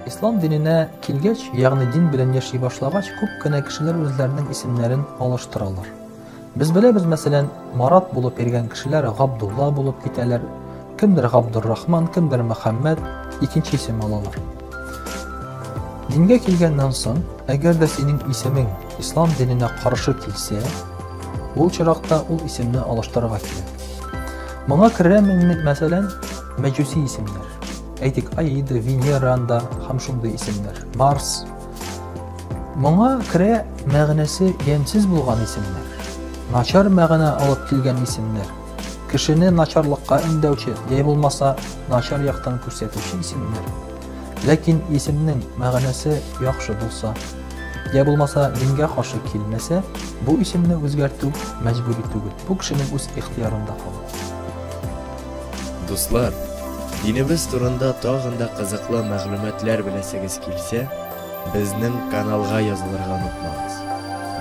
Ислам диненә килгәч, ягъни дин белән яши башлагач, күп кенә кешеләр үзләренең исемнәрен алыштыралар. Без беләбез, мәсәлән, Марат булып йөргән кешеләр Габдулла булып китәләр, кемдер Габдуррахман, кемдер Мөхәммәд, икенче исем алалар. Дингә килгәннән соң, әгәр дә синең исемең ислам диненә каршы килсә, ул чиракта ул исемне алыштырырга кирәк. Моңа керә, мәсәлән, мәҗүси исемнәр. Әйтик, Аида, Венеранда һәм шундый исемнәр. Марс. Моңа керә мәгънәсе ямьсез булган исемнәр. Начар мәгънә алып килгән исемнәр. Кешене начарлыкка өндәүче, яй булмаса, начар яктан күрсәтүче исемнәр. Ләкин исемнең мәгънәсе яхшы булса, я булмаса дингә каршы килмәсә, бу исемне үзгәртү мәҗбүри түгел. Бу кешенең үз ихтиярында кала. Дуслар, динебез турында тагын да кызыклы мәгълүматлар беләсегез килсә, безнең каналга язылырга онытмагыз.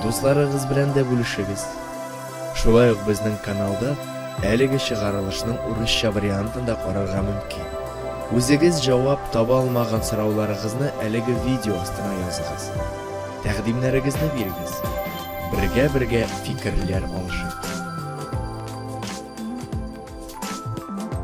Дусларыгыз белән дә бүлешегез. Шулай ук безнең каналда әлеге чыгарылышның урысча вариантын да карарга мөмкин. Үзегез җавап таба алмаган сорауларыгызны әлеге видео астына языгыз. Тәкъдимнәрегезне бирегез. Бергә-бергә фикерләр алышыйк.